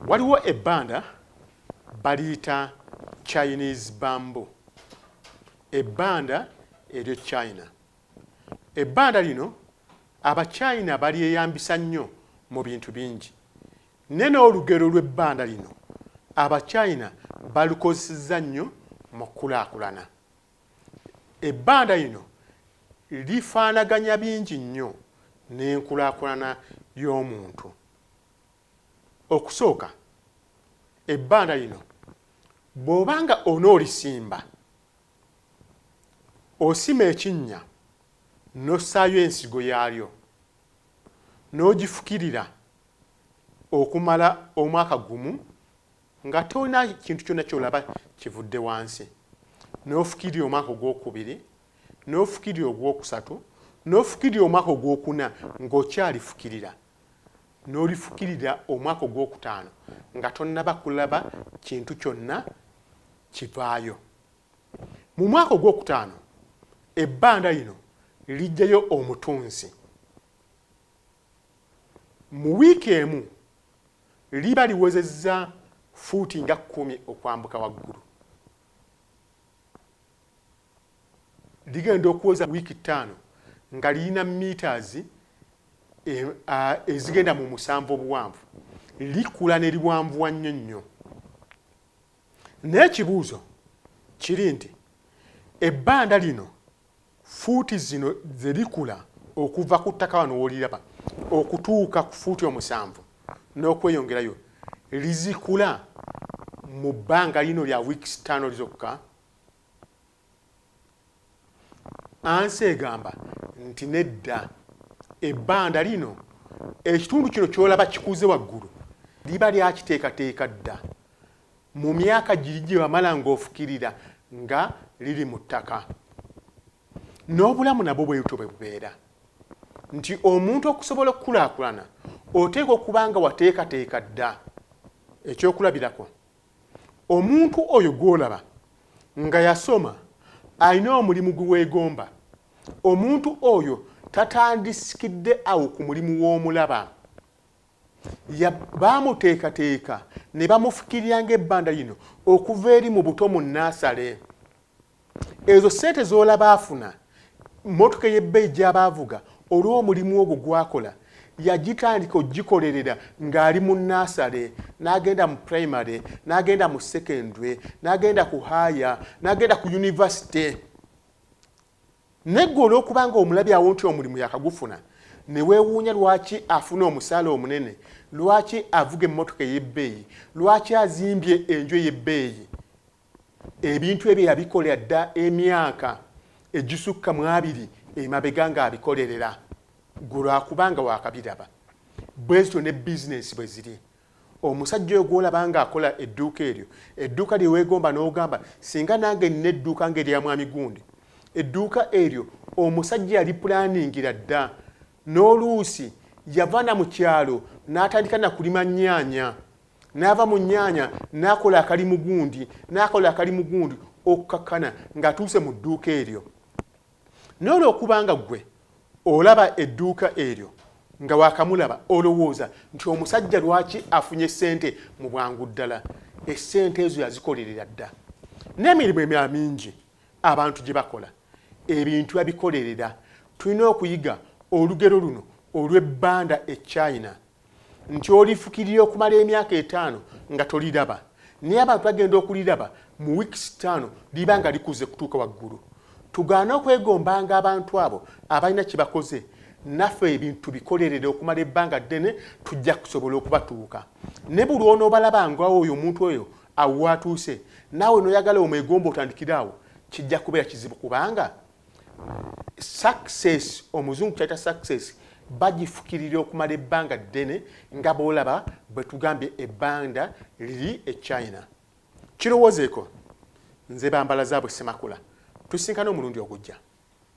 Waliwo ebbanda baliyita Chinese bamboo, ebbanda eryo China. Ebbanda lino Abachina balyeyambisa nnyo mu bintu bingi. Ne n'olugero lw'ebbanda lino Abachina balukozesezza nnyo mu kkulaakulana. Ebbanda lino lifaanaganya bingi nnyo n'enkulaakulana y'omuntu. Okusooka, ebbaala lino bw'oba nga onoolisimba, osima ekinnya n'ossaayo ensigo yaalyo n'ogifukirira okumala omwaka gumu nga tolina kintu kyonna ky'olaba kivudde wansi, n'ofukirira omwaka ogwokubiri, n'ofukirira ogwokusatu, n'ofukirira omwaka ogwokuna ng'okyalifukirira. n'olifukirira omwaka ogw'okutaano nga tonnaba kulaba kintu kyonna kivaayo. Mu mwaka ogw'okutaano ebbanda lino liggyayo omutunzi. Mu wiiki emu liba liwezezza fuuti nga kkumi okwambuka waggulu. Ligenda okuweza wiiki ttaano nga lirina miitaazi ezigenda mu musanvu obuwanvu. Likula ne liwanvuwa nnyo nnyo. Naye ekibuuzo kiri nti ebbanda lino fuuti zino ze likula okuva ku ttaka wano w'oliraba okutuuka ku fuuti omusanvu n'okweyongerayo lizikula mu bbanga lino lya wiiki ttaano zokka. ansi egamba nti nedda ebbanda lino ekitundu kino kyolaba kikuze waggulu liba lyakiteekateeka dda mu myaka giri gye wamala ng'ofukirira nga liri mu ttaka n'obulamu nabwo bwe butyo bwe bubeera nti omuntu okusobola okukulaakulana oteekwa okuba nga wateekateeka dda ekyokulabirako Omuntu oyo gw'olaba nga yasoma alina omulimu gwe weegomba. Omuntu oyo tatandiskidde awo ku mulimu w'omulaba. Ya, baamuteekateeka ne bamufukirira ng'ebbanda lino okuva eri mu buto mu nnaasale. ezo sente zolaba afuna motoka eyebbeyi gyaba avuga olwomulimu ogwo gwakola yagitandika ogikolerera ngaali mu nasale nagenda mu primary nagenda mu secondary nagenda ku haya nagenda ku university negwe olwokubanga omulabi awo nti omulimu yakagufuna newewuunya lwaki afuna omusaala omunene lwaki avuga emmotoka eyebbeeyi lwaki azimbye enju eyebbeeyi Ebintu ebyo yabikolera dda emyaka egisukka mu abiri emabega ng'abikolerera ggwe lwa kuba nga waakabiraba. Bwe zityo ne bizinensi bwe ziri. Omusajja oyo gw'olaba ng'akola edduuka eryo, edduuka lye weegomba n'ogamba singa nange nnina edduuka ng'erya Mwami Gundi. Edduuka eryo omusajja yalipulaaningira dda. N'oluusi yava na mu kyalo n'atandika na kulima nnyaanya. n'ava mu nnyanya n'akola akali mugundi n'akola akali mugundi okukakkana ng'atuuse mu dduuka eryo naye olwokuba nga ggwe olaba edduuka eryo nga wakamulaba olowooza nti omusajja lwaki afunye ssente mu bwangu ddala essente ezo yazikolerera dda n'emirimu emirala mingi abantu gye bakola ebintu babikolerera tulina okuyiga olugero luno olw'ebbanda e china nti olifukirira okumala emyaka etaano nga toliraba naye abantu bagenda okuliraba mu wiikisi ttaano liba nga likuze kutuuka waggulu tugaane okwegombanga abantu abo abalina kye bakoze naffe ebintu tubikolerere okumala ebbanga ddene tujja kusobola okubatuuka ne buli onoobalabangwawo oyo omuntu oyo awo waatuuse naawe nooyagala omwegomba otandikire awo kijja kubeera kizibu kubanga Success omuzungu kyayita success bagifukirira okumala ebbanga ddene nga bwolaba bwetugambye ebbanda liri e China. Kirowozeeko, nze bambala zaabwe Ssemakula tusinkane omulundi ogujja.